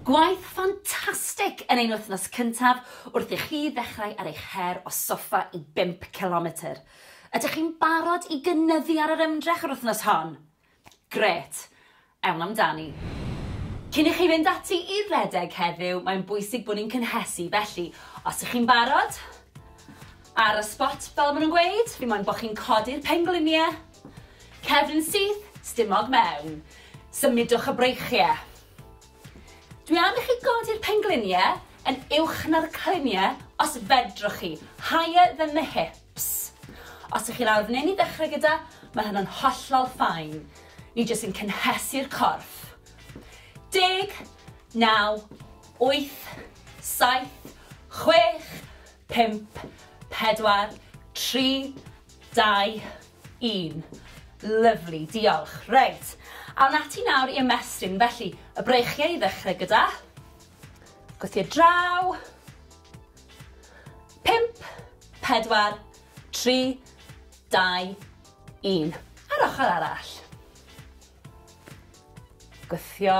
Gwaith ffantastig yn ein wythnos cyntaf wrth i chi ddechrau ar eich her o soffa i bump cilometr! Ydych chi'n barod i gynyddu ar yr ymdrech yr wythnos hon? Grêt! Ewn amdani! Cyn i chi fynd ati i redeg heddiw, mae'n bwysig bod ni'n cynhesu, felly os ych chi'n barod, ar y sbot fel maen nhw'n gweud, fi moyn bod chi'n codi'r pengliniau, Cefn syth, stumog mewn. Symudwch y breichie. Dwi am i chi godi'r penglunie yn uwch na'r clunie os fedrwch chi, higher than the hips. Os ych chi lawr fan hyn i ddechrau gyda, mae hynna'n hollol ffain. Ni jyst yn cynhesu'r corff. Deg, naw, wyth, saith, chwech, pump, pedwar, tri, Dau, un. Lyfli, diolch. Reit, awn ati nawr i ymestyn. Felly, y breichiau i ddechrau gyda. Gwythio draw. Pimp, pedwar, tri, dau, un. A'r ochr arall. Gwythio.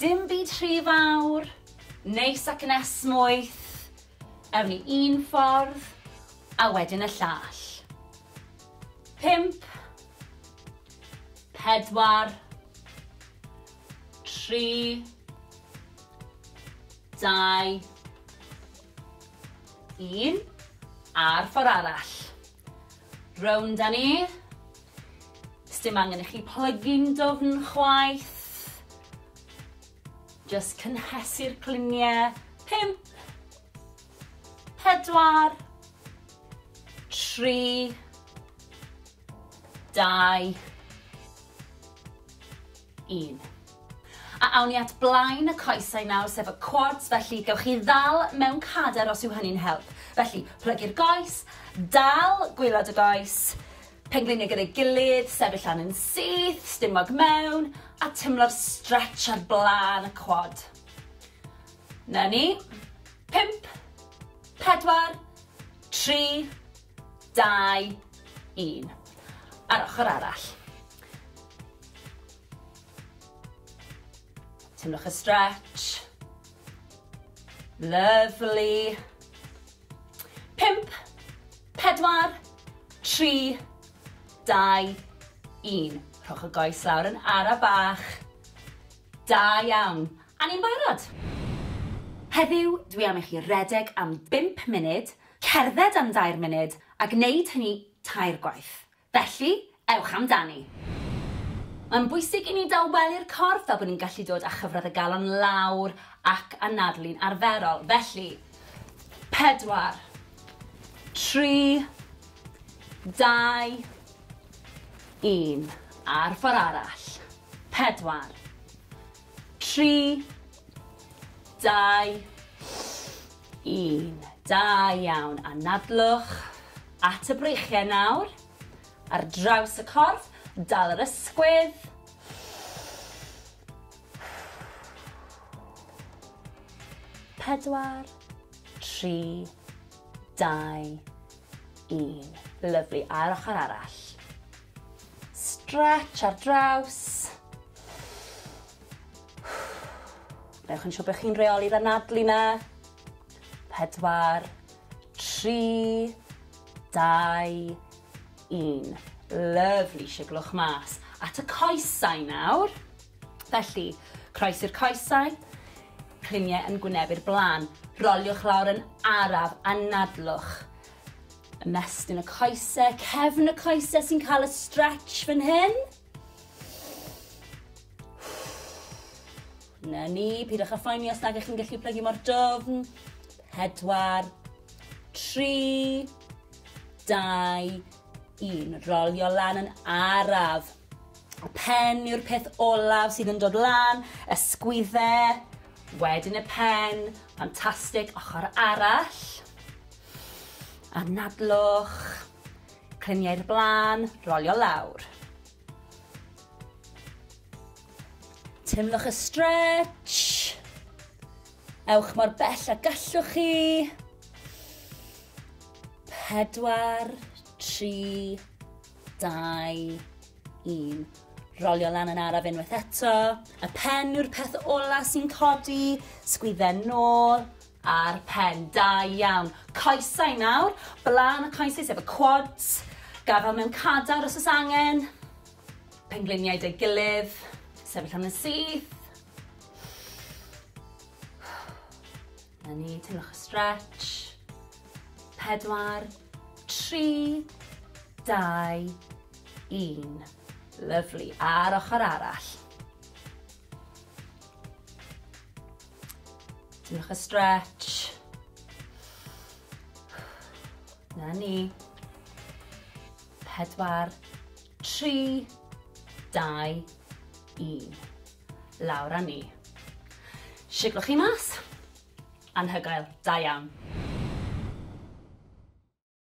Dim byd rhy fawr, neis ac yn esmwyth, ewn ni un ffordd a wedyn y llall. Pump, pedwar, tri, dau, un, a'r ffordd arall. Rownd a ni. Sdim angen i chi plygu'n dwfn chwaith. Just cynhesu'r cliniau. Pimp. Pedwar. Tri. Dau. un. A awn ni at blaen y coesau nawr, sef y quads, felly gewch chi ddal mewn cader os yw hynny'n help. Felly, plygu'r goes, dal gwylod y goes, pengliniau gyda'i gilydd, sefyll lan yn syth, stumog mewn, a tymlo'r stretch ar blaen y quad. Na ni. 5, 4, 3, 2, 1. Ar ochr arall. Teimlwch y stretch. Lovely. Pimp, pedwar, tri, dau, un. Rhowch y goes lawr yn ara bach. Da iawn. A ni'n barod. Heddiw, dwi am i chi redeg am bimp munud, cerdded am dair munud, a gwneud hynny tair gwaith. Felly, ewch amdani! Mae'n bwysig i ni dawelu'r corff fel bod ni'n gallu dod â chyfradd y galon lawr ac anadlu'n arferol. Felly, pedwar, tri, dau, un. A'r ffordd arall. Pedwar, tri, dau, 1. Da iawn. Anadlwch at y breichiau nawr. Ar draws y corff, dal yr ysgwydd. Pedwar, tri, dau, un. Lyflu. A'r ochr arall. Stretch ar draws. Newch yn siŵr bod chi'n reoli'r anadlu 'na. Pedwar, tri, dau, un. Lyfli, siglwch mas. At y coesau nawr. Felly, croes i'r coesau, cliniau yn gwynebu'r blaen. Roliwch lawr yn araf, anadlwch. Ymestyn y coesau, cefn y coesau sy'n cael y stretch fan hyn. Na ni, pidwch â phoeni os nag ych chi'n gallu plygu mor dofn. Pedwar, tri, dau, un. Rolio lan yn araf. Y pen yw'r peth olaf sydd yn dod lan, y sgwydde, wedyn y pen, ffantastig, ochr arall. Anadlwch, Clymu i'r blaen, rolio lawr. Teimlwch y stretch. Ewch mor bell a gallwch chi. Pedwar, tri, dau, un. Rolio lan yn araf unwaith eto. Y pen yw'r peth ola sy'n codi. Sgwydden nôl. Ar pen, da iawn. Coesau nawr, blaen y coesau sef y quads, gafal mewn cadar os oes angen, pengliniau dy gilydd, sefyll am yn syth. Na ni, teimlwch y stretch. Pedwar, tri, dau, un. Lyflu, a'r ochr arall. Diolch y stretch. Na ni. Pedwar, tri, dau, un. Lawr a ni. Siglwch chi mas. Anhygoel, da iawn.